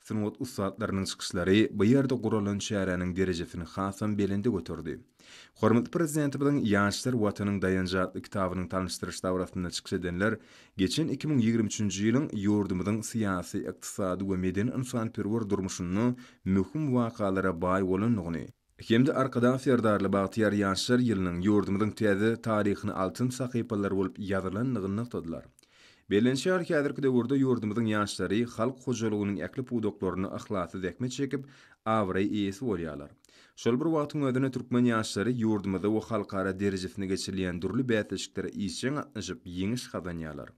Sungat ussatlarynyň çykyşlary bu ýerde guralan çäräniň derejesini hasam belende göterdi. Hormatly Prezidentimiziň Ýaşlar, Watanyň daýanjy atly kitabynyň tanyşdyryş dabarasynda çykyş edenler geçen iki müň ýigrimi üçünji ýylyň ýurdumyzyň syýasy, ykdysady we medeni-ynsanperwer durmuşynda möhüm wakalara baý bolandygyny, hem-de Arkadag Serdarly bagtyýar ýaşlar ýylynyň ýurdumyzyň täze taryhyna altyn sahypalar bolup ýazylandygyny nygtadylar. Bellenşýar, häzirki döwürde ýurdumyzyň ýaşlary halk hojalygynyň ähli pudaklarynda yhlasly zähmet çekip, abraý eýesi bolýarlar. Şol bir wagtyň özünde türkmen ýaşlary ýurdumyzda we halkara derejesinde geçirilýän dürli bäsleşiklere işjeň gatnaşyp, ýeňiş gazanýarlar.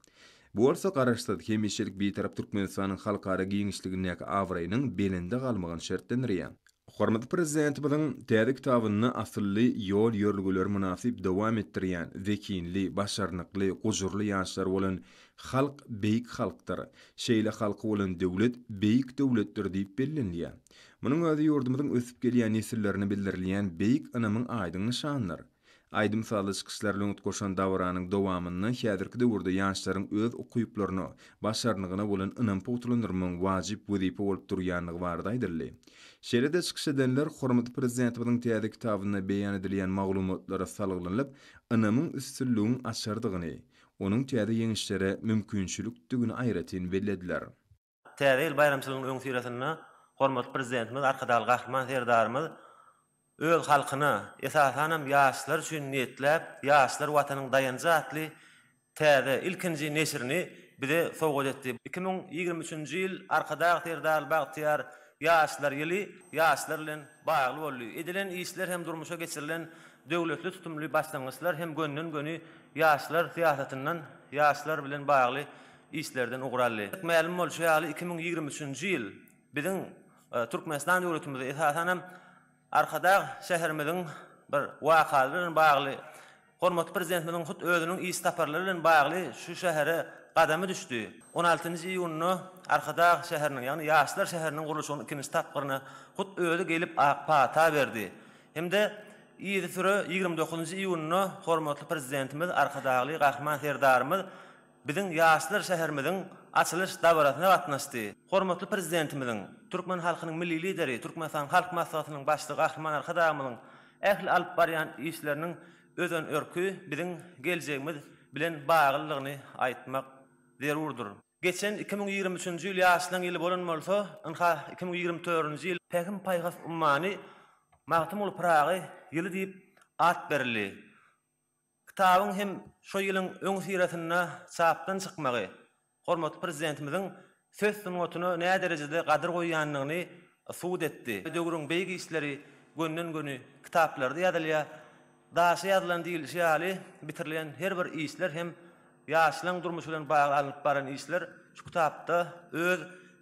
Bu bolsa Garaşsyz, hemişelik Bitarap Türkmenistanyň halkara giňişligindäki abraýynyň belende galmagyny şertlendirýär. Hormatly Prezidentimiziň täze kitabynda asylly ýol-ýörelgeleri mynasyp dowam etdirýän zehinli, başarnykly, gujurly ýaşlar bolan halk beýik halkdyr, şeýle halky bolan döwlet beýik döwletdir diýip bellenilýär. Munuň özi ýurdumyzyň ösüp gelýän nesillerine bildirilýän beýik ynamyň aýdyň nyşanydyr. Aýdym-sazly çykyşlar lňgt goşan dabaranyň dowamynda häzirki döwürde ýaşlaryň öz ukyplaryna, başarnygyna bolan ynam pugtalandyrmagyň wajyp wezipe bolup durýandygy barada aýdyldy. Şeýle-de çykyş edenler hormatly Prezidentimiziň täze kitabynda beýan edilýän maglumatlara salgylanylyp, ynamyň üstünligiň açardygyny, onuň täze ýeňişlere mümkinçilikdigini aýratyn bellediler. Täze ýyl baýramçylygynyň öňüsyrasynda hormatly Prezidentimiz Arkadagly Gahryman Serdarymyz öz halkyna, esasanam ýaşlar üçin niýetläp, Ýaşlar, Watanyň daýanjy atly täze, ilkinji neşirini bize sowgat etdi. Iki müň ýigrimi üçünji ýyl Arkadag Serdarly bagtyýar ýaşlar ýyly ýaşlar bilen bagly boldy. Edilen işler hem durmuşa geçirilen döwletli tutumly başlangyçlar hem gönden-göni ýaşlar syýasatyndan ýaşlar bilen bagly işlerden ugur aldy. Mälim bolşy ýaly, iki müň ýigrimi üçünji ýyl biziň Türkmenistan döwletimizde, esasan hem, Arkadag şäherimiziň bir wakaly bilen bagly, hormatly Prezidentimiziň hut özüniň iş saparlary bilen bagly şu şähere gadamy düşdi. On altynjy iýunda Arkadag şäheriniň, ýagny Ýaşlar şäheriniň gurluşygynyň ikinji tapgyryna hut özi gelip ak pata berdi. Hem-de yzysüre ýigrimi dokuzynjy iýunda hormatly Prezidentimiz, Arkadagly Gahryman Serdarymyz, Biziň ýaşlar şäherimiziň açylyş dabarasyna gatnaşdy. Hormatly Prezidentimiziň, türkmen halkynyň Milli Lideri, Türkmenistanyň Halk Maslahatynyň Başlygy Gahryman Arkadagymyzyň ähli alyp barýan işleriniň özanörki biziň geljegimiz bilen baglydygyny aýtmak zerurdyr. Geçen iki müň ýigrimi üçünji ýyl ýaşlaryň ýyly bolan bolsa, ynha, iki müň ýigrimi dördünji ýyl Pähim-paýhas ummany Magtymguly Pyragy ýyly diýip at berildi. Kitabyň hem şu ýylyň öňüsyrasynda çapdan çykmagy hormatly Prezidentimiziň söz sungatyna näderejede gadyr goýýandygyny subut etdi. Döwrüň beýik işleri gönden-göni kitaplarda ýazylýar. Daşy ýazylan diýlişi ýaly, bitirilen her bir işler hem ýaşlaryň durmuşy bilen bagly alnyp barlan işler şu kitapda öz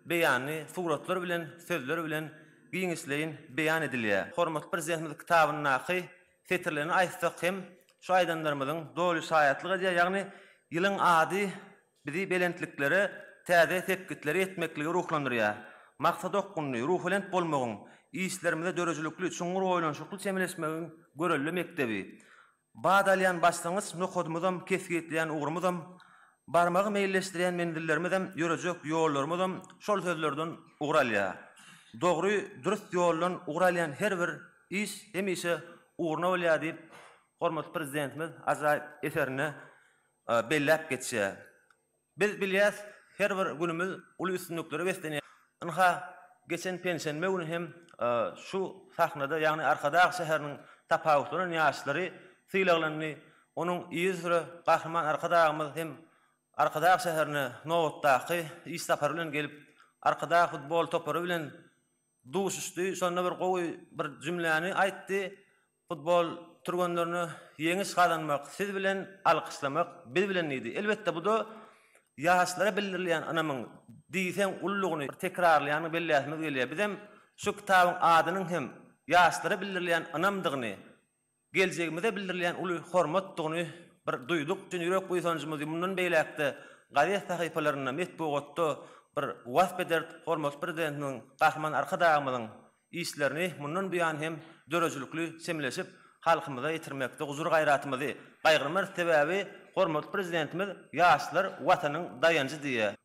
beýanyny suratlar bilen, sözler bilen giňişleýin beýan edilýär. Hormatly Prezidentimiz kitabyndaky Setirlerini aýtsak hem, şu aýdanlarymyzyň doly şaýatlyk edýär, ýagny ýylyň ady bizi belentliklere, täze sepgitlere ýetmeklige ruhlandyrýar. Maksada okgunly, ruhubelent bolmagyň, işlerimize döredijilikli, çuňňur oýlanyşykly çemeleşmegiň görelde mekdebi. Bat alýan başlangyç nokadymyzam, kesgitleýän ugrumyzam, barmagy meýilleşdirýän menzillerimizem, ýörejek ýollarymyzam şol sözlerden ugur alýar. Dogry, dürs ýoldan ugur alýan her bir Iş hemişe ugruna bolýar diýip, hormatly Prezidentimiz ajaýyp eserinde belläp geçýär. Biz bilýäris, her bir günümiz uly üstünliklere beslenýär. Ynha, geçen penşenbe güni hem şu sahnada, ýagny Arkadag şäheriniň tapawutlanan ýaşlary sylaglandy. Onuň yzy süre Gahryman Arkadagymyz hem Arkadag şäherine nobatdaky iş sapary bilen gelip, Arkadag futbol topary bilen duşuşdy. Şonda bir gowy bir jümläni aýtdy, Futbol türgenlerine ýeňiş gazanmak siz bilen, alkyşlamak biz bilen diýdi. Elbetde bu-da ýaşlara bildirilýän ynamyň diýseň ululygyny bir tekrarlaýanyny belläsimiz gelýär. Bizem şu kitabyň adynyň hem ýaşlara bildirilýän ynamdygyny, Geljegimize bildirilýän uly hormatdygyny bir duýduk, çyn ýürek buýsanjymyzy mundan beýläk-de gazet sahypalarynda, metbugatda bir wasp ederis, hormatly Prezidentimiziň, Gahryman Arkadagymyzyň işlerini mundan buýan hem döredijilikli çemeleşip, halkymyza ýetirmekde gujur-gaýratymyzy gaýgyrmarys, sebäbi hormatly Prezidentimiz Ýaşlar Watanyň daýanjy diýýär.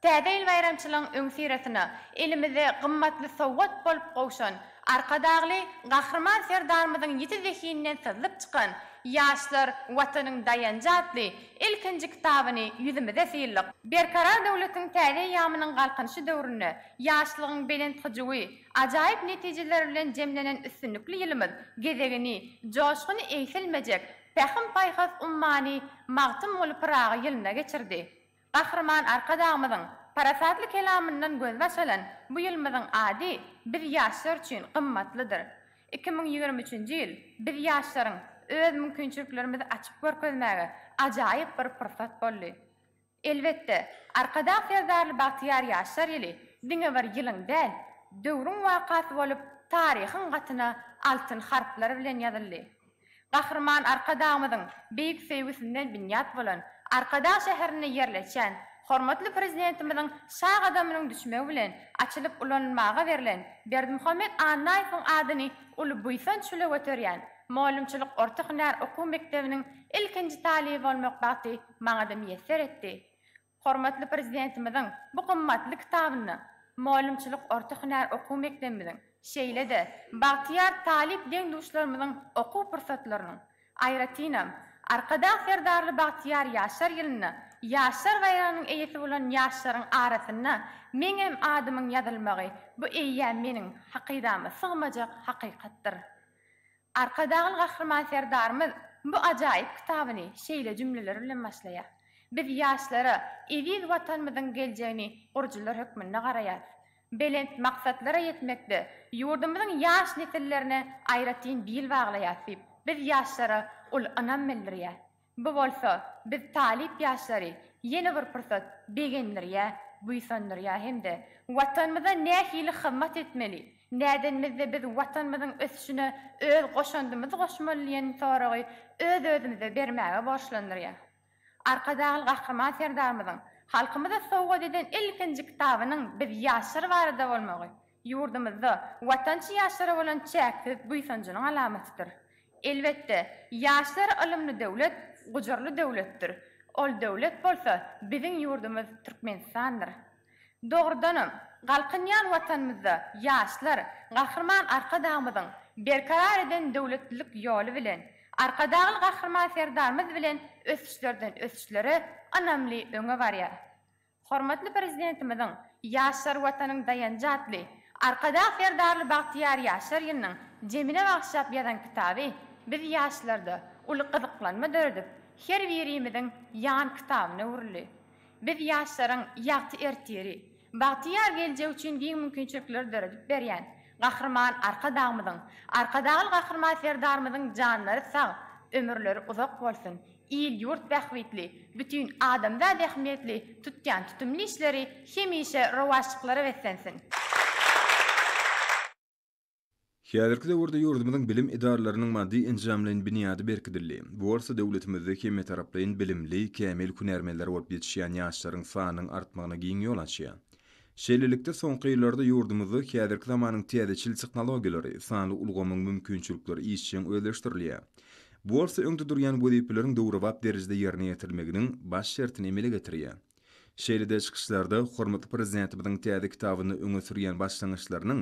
Täze ýyl baýramçylygyň öňüsyrasynda elimize gymmatly sowgat bolup gowşan Arkadagly Gahryman Serdarymyzyň ýiti zehininden syzlyp çykan Ýaşlar, Watanyň daýanjy atly ilkinji kitabyny ýüzümize syldyk. Berkarar döwletiň täze eýýamynyň Galkynyşy döwründe ýaşlygyň belent hyjuwy, ajaýyp netijeleri bilen jemlenen üstünlikli ýylymyz gezegini Joşguny egsilmejek pähim-paýhas ummany Magtymguly Pyragy ýylyna geçirdi. Gahryman Arkadagymyzyň parasatly kelamyndan gözbaş alan bu ýylymyzyň ady biz ýaşlar üçin gymmatlydyr. Iki müň ýigrimi üçünji ýyl biz ýaşlaryň öz mümkinçiliklerimizi açyp görkezmäge ajaýyp bir pursat boldy. Elbetde, Arkadag Serdarly bagtyýar ýaşlar ýyly diňe bir ýylyň däl, döwrüň wakasy bolup, taryhyň gatyna altyn harplar bilen ýazyldy. Gahryman Arkadagymyzyň beýik söýgüsinden binýat bolan, Arkadag şäherinde ýerleşýän hormatly Prezidentimiziň sag gadamynyň düşmegi bilen açylyp ulanylmaga berlen Berdimuhamet Annaýewiň adyny uly buýsanç bile göterýän Mugallymçylyk orta hünär okuw mekdebiniň ilkinji talyby bolmak bagty maňa-da miýesser etdi. Hormatly Prezidentimiziň bu gymmatly kitabynda mugallymçylyk orta hünär okuw mekdebimiziň, şeýle-de bagtyýar talyp deň-duşlarymyzyň okuw pursatlarynyň, aýratynam, Arkadag Serdarly bagtyýar ýaşlar ýylynda Ýaşlar baýragynyň eýesi bolan ýaşlaryň arasynda meňem adymyň ýazylmagy bu eýýäm meniň hakydama sygmajak hakykatdyr. Arkadagly Gahryman Serdarymyz bu ajaýyp kitabyny şeýle jümleler bilen başlaýar, Biz ýaşlara eziz Watanymyzyň geljegini gurujylar hökmünde garaýarys. Belent maksatlara ýetmekde ýurdumyzyň ýaş nesillerine aýratyn bil baglaýarys diýip, biz ýaşlara uly ynam bildirýär. Bu bolsa biz talyp ýaşlary ýene bir pursat begendirýär, buýsandyrýar hem-de Watanymyza nähili hyzmat etmeli, nädenimizde biz Watanymyzyň ösüşine öz goşandymyzy goşmaly diýen soragy öz-özümize bermäge borçlandyrýar. Arkadagly Gahryman Serdarymyzyň halkymyza sowgat eden ilkinji kitabynyň biz ýaşlar barada bolmagy ýurdumyzda watançy ýaşlara bolan çäksiz buýsanjynyň alamatydyr. Elbetde, ýaşlar ylymly döwlet, gujurly döwletdir. Ol döwlet bolsa biziň ýurdumyz Türkmenistandyr. Dogrudanam, galkynýan Watanymyzda ýaşlar Gahryman Arkadagymyzyň berkarar eden döwletlilik ýoly bilen, Arkadagly Gahryman Serdarymyz bilen ösüşlerden-ösüşlere ynamly öňe barýar. Hormatly Prezidentimiziň Ýaşlar Watanyň daýanjy atly Arkadag Serdarly bagtyýar ýaşlar ýylynyň jemine bagyşlap ýazan kitaby biz ýaşlarda uly gyzyklanma döredip, her birimiziň ýan kitabyna öwrüldi. Biz ýaşlaryň ýagty ertiri, bagtyýar geljegi üçin giň mümkinçilikleri döredip berýän Gahryman Arkadagymyzyň, Arkadagly Gahryman Serdarymyzyň janlary sag, ömürleri uzak bolsun! il-ýurt bähbitli, bütin adamzat ähmiýetli tutýan tutumly işleri hemişe rowaçlyklara beslensin! Häzirki döwürde ýurdumyzyň bilim edaralarynyň maddy-enjamlaýyn binýady berkidildi. Bu bolsa döwletimizde hemmetaraplaýyn bilimli, kämil hünärmenler bolup ýetişýän ýaşlaryň sanynyň artmagyna giň ýol açýar. Şeýlelikde, soňky ýyllarda ýurdumyzda häzirki zamanyň täzeçil tehnologiýalary, sanly ulgamyň mümkinçilikleri işjeň özleşdirilýär. Bu bolsa öňde durýan wezipeleriň döwrebap derejede ýerine ýetirilmeginiň baş şertini emele getirýär. Şeýle-de çykyşlarda hormatly Prezidentimiziň täze kitabynda öňe sürýän başlangyçlarynyň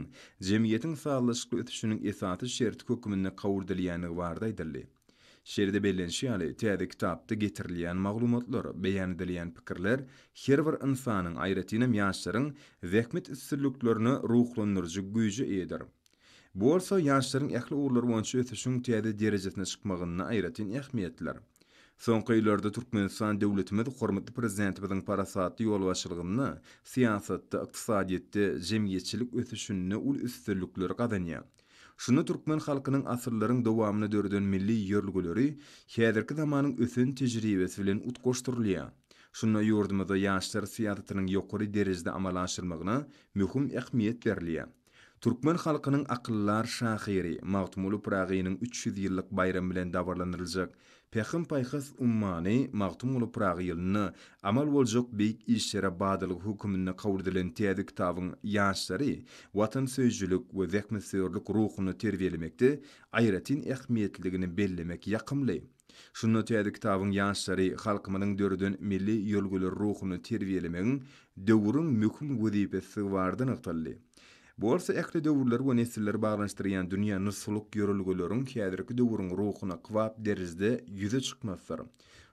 jemgyýetiň sazlaşykly ösüşiniň esasy şerti hökmünde kabul edilýändigi barada aýdyldy. Şeýle-de bellenişi ýaly, täze kitapda getirilýän maglumatlar, beýan edilýän pikirler her bir ynsanyň, aýratynam ýaşlaryň zähmet üstünliklerine ruhlandyryjy güýje eýedir. Bu bolsa ýaşlaryň ähli ugurlar boýunça ösüşiň täze derejesine çykmagynda aýratyn ähmiýetlidir. Soňky ýyllarda Türkmenistan döwletimiz hormatly Prezidentimiziň parasatly ýolbaşçylygynda syýasatda, ykdysadyýetde, jemgyýetçilik ösüşinde uly üstünlikleri gazanýar. Şunda türkmen halkynyň asyrlaryň dowamynda döreden milli ýörelgeleri häzirki zamanyň ösen tejribesi bilen utgaşdyrylýar. Şunda ýurdumyzda ýaşlar syýasatynyň ýokary derejede amala aşyrmagyna möhüm ähmiýet berilýär. Türkmen halkynyň akyldar şahyry Magtymguly Pyragynyň üç ýüz ýyllyk baýramy bilen dabaralandyryljak Pähim-paýhas ummany Magtymguly Pyragy ýylynda amal boljak beýik işlere badalga höküminde kabul edilen täze kitabyň ýaşlary watansöýüjilik we zähmetsöýerlik ruhunda terbiýelemekde aýratyn ähmiýetlidigini bellemek ýakymly. Şunda täze kitabyň ýaşlary halkymyzyň döreden milli ýörelgeleri ruhunda terbiýelemegiň döwrüň möhüm wezipesizigi barada nygtaldy. Bu bolsa ähli döwürleri we nesilleri baglanyşdyrýan dünýä nusgalyk ýörelgeleriň häzirki döwrüň ruhuna kybap derejede ýüze çykmasydyr.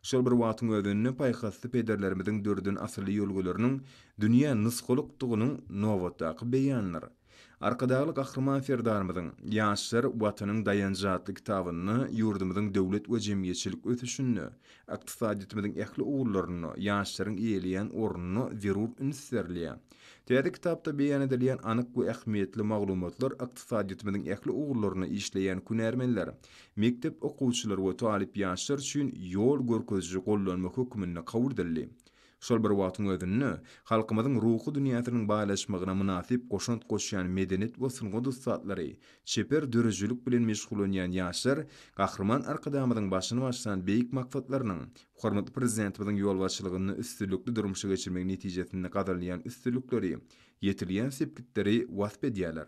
Şol bir wagtyň özünde paýhasly pederlerimiziň döreden asylly ýörelgeleriniň dünýä nusgalykdygynyň nobatdaky beýanydyr. Arkadagly Gahryman Serdarymyzyň Ýaşlar, Watanyň daýanjy atly kitabynda ýurdumyzyň döwlet we jemgyýetçilik ösüşinde, ykdysadyýetimiziň ähli ugurlarynda ýaşlaryň eýeleýän ornuna zerur üns berilýär. Täze kitapda beýan edilýän anyk we ähmiýetli maglumatlar ykdysadyýetimiziň ähli ugurlarynda işleýän hünärmenler, mekdep okuwçylary we talyp ýaşlar üçin ýol görkeziji gollanma hökmünde kabul edildi. Şol bir wagtyň özünde, halkymyzyň ruhy dünýäsiniň baýlaşmagyna mynasyp goşant goşýan medeniýet we sungat ussatlary, çeper döredijilik bilen meşgullanýan ýaşlar Gahryman Arkadagymyzyň başyny başlan beýik maksatlarynyň Hormatly Prezidentimiziň ýolbaşçylygynda üstünlikli durmuşa geçirmek netijesinde gazanylýan üstünlikleri, ýetilýän sepgitleri wasp edýärler.